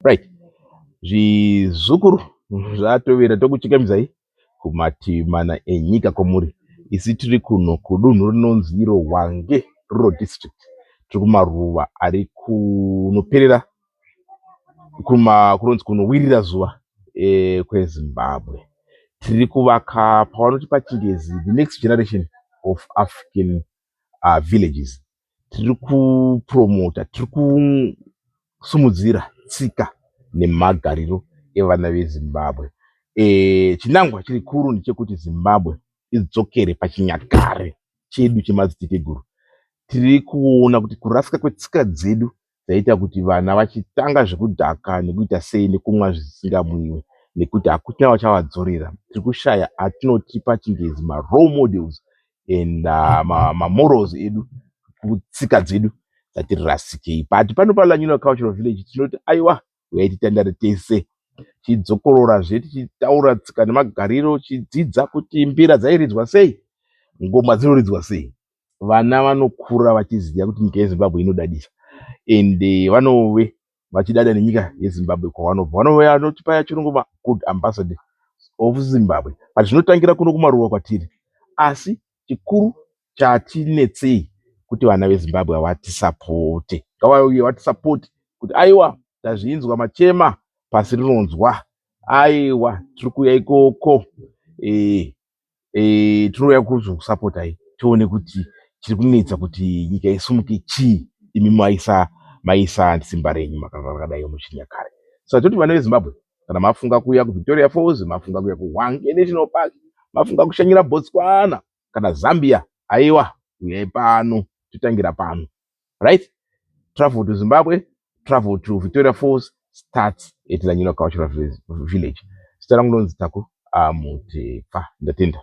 right zvizukuru zvatowira tokuchikamidzai kumativi mana enyika kwamuri isi tiri kuno kudunhu rinonzi iro wange rural district tiri kumaruva ari kunoperera kunonzi kunowirira zuva e, kwezimbabwe tiri kuvaka pavanoti pachingezi the next generation of african uh, villages tiri kupromota tiri kusumudzira tsika nemagariro evana vezimbabwe e, chinangwa chiri kuru ndechekuti zimbabwe idzokere pachinyakare chedu chemadziteteguru tiri kuona kuti kurasika kwetsika dzedu dzaita kuti vana vachitanga zvekudhaka nekuita sei nekumwa zvisingamwiwe nekuti hakuchina vachavadzorera tiri kushaya atinoti pachingezi marole models and uh, mamorals ma edu kutsika dzedu dzatiri rasikei but pano palanulo cultural village tinoti aiwa huyayi titandare tese tidzokorora zve tichitaura tsika nemagariro tichidzidza kuti mbira dzairidzwa sei ngoma dzinoridzwa sei vana vanokura vachiziva kuti nyika yezimbabwe inodadisa and vanove vachidada nenyika yezimbabwe kwavanobva vanove vanotipaya chirungu magood ambassador of zimbabwe but zvinotangira kuno kumaruwa kwatiri asi chikuru chatinetsei kuti vana vezimbabwe havatisapote ngavauye vatisapote kuti aiwa tazvinzwa machema pasi rinonzwa aiwa tiri kuuya ikoko e, e, tinouya kuzokusapotai tione kuti chiri kunetsa kuti nyika isumuke chii imi maisa maisa simba renyu makanga rakadai muchinyakare so toti vana vezimbabwe kana mafunga kuuya kuvictoria falls mafunga kuuya kuhwange national park mafunga kushanyira botswana kana zambia aiwa uyai pano totangira pano right travel to zimbabwe travel to victoria falls starts at lanyino cultural village zita rangu ndonzi taku amutepfa ndatenda